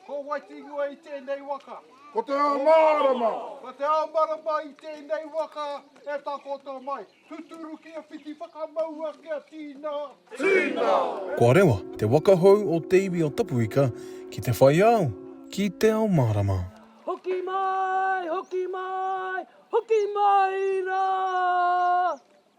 Ko Waitinua i tēnei waka. Ko te ao mārama. Ko te ao marama i tēnei waka e takoto mai. Tuturu kia whiti whakamaua kia tīna. Tīna! Ko Arewa te waka hou o te iwi o Tapuika ki te whai ao, ki te ao mārama. Hoki mai! Hoki mai! Hoki mai rā!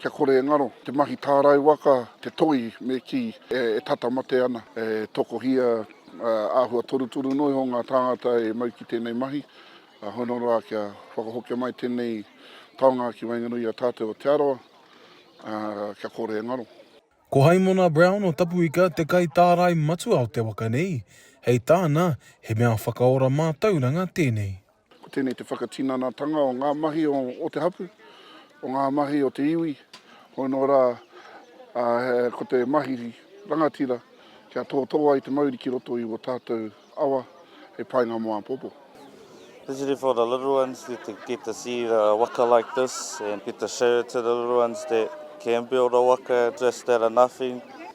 Kia kore e ngaro te mahi tārai waka, te toi me kī e tata mate ana. E tokohia āhua torutoru noa iho ngā tāngata e mau ki tēnei mahi. Hono rā kia whakahokia mai tēnei taonga ki waenganui i a tātou o Te Arawa, kia kore e ngaro. Ko Haimona Brown o Tapuika te kaitārai matua o te waka nei, hei tāna, he mea whakaora mātauranga tēnei. Ko tēnei te whakatinanatanga o ngā mahi o te hapū, o ngā mahi o te iwi, hoi nō rā, ko te mahi rangatira kia tōtō ai te mauri ki roto i o tātou awa hei painga mō āpōpō. Especially for the little ones to get to see the waka like this and get to show it to the little ones that can build a waka just out of nothing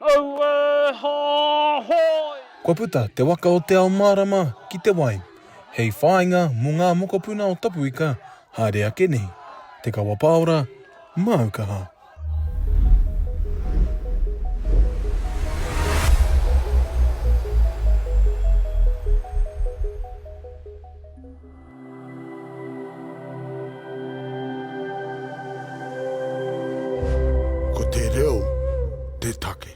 Aue hahoi! Kua puta Te Waka o Te Ao Mārama ki Te Wai hei whāinga mō ngā mokopuna o Tapuika haere ake nei, Te Kawa Pāora, māu kaha. Ko te reo te take.